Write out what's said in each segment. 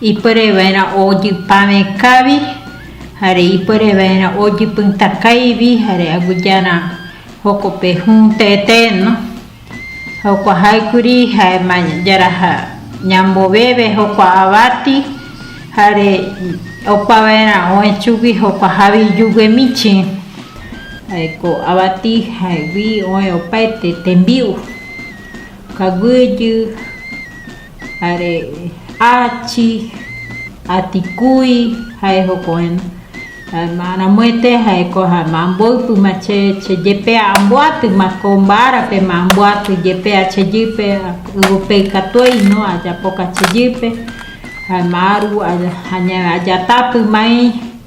ipuere vaerã ojypa vekãvi, jare ipuere vaerã ojypytakãivi, jare aguiyeara jokope hũ tete, no. Jokua jaekuri jaema yaraja ñamboveve jokua avati, jare opa vaerã oe chugui jokua javiyuguemichi, jaeko avati jaegui oe opaete tembi'u, kaguiyy, Are achi, atikúi ha'e hoko'ẽno. Además, ramoete ha'eko ha'ema amboypýma che, che jepe amboatyma ko mba'árape, ma amboaty jepe achejýpe, yvope ikatu eino ajapoka achejýpe, ha'ema aru aña, ajatápymai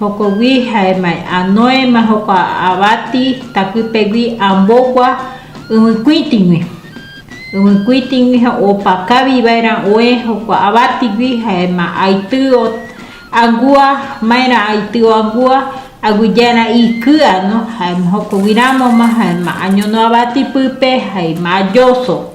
Jokogui ha'e mae'a Noema jokua avati takýpegui ambogua yvykuĩtigui. Yvykuĩtigui opa kavi vaerã oe jokua avatigui ha'ema aity angua, maerã aity angua aguijára ikyano, ha'ema jokogui ramoma ha'ema añono avati pýpe ha'ema ajoso.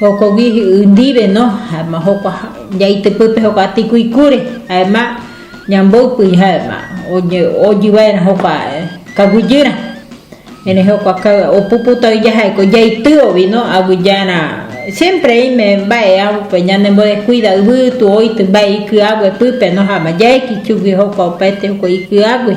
Jokogui ndive no, jaema jokua jaitypy pe jokua tikuikúre, jaema ñamboypy jaema ojy vaerã jokua kaguyýrã, erei jokua opuputagui jaheko jaitýovi no, aguijára siémpre oime mba'e upe ñanembodeskuida yvytu oity mba'e iky'a guepýpe no, jaema jaeki chugui jokua opaite jokua iky'águi.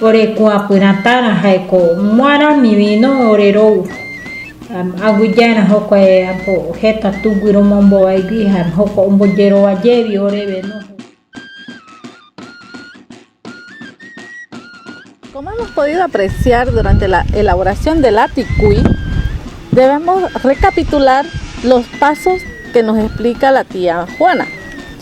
Ore kuãpyrã tárã ha'éko muãrami vino ore rou. Aguijaerã jokuae apo heta tugui romombovaigui ha joko ombojerova jévi oreve no. Como hemos podido apreciar durante la elaboración del Aticuy, debemos recapitular los pasos que nos explica la tía Juana.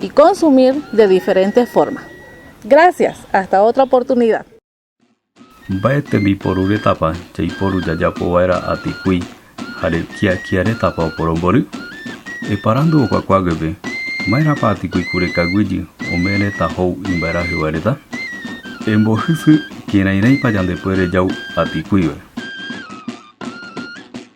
Y consumir de diferente forma. Gracias, hasta otra oportunidad. Mba'e tembiporu retãpa jaiporu jajapo va'erã atikui ha rekiakia retãpa oporombory? Eparandu okuakua guépe, Ma'erãpa atikui kurekaguýjy ome retã hou imba'erahy vae reta? Embohysy kerairãipa jandepuere jau atikuive.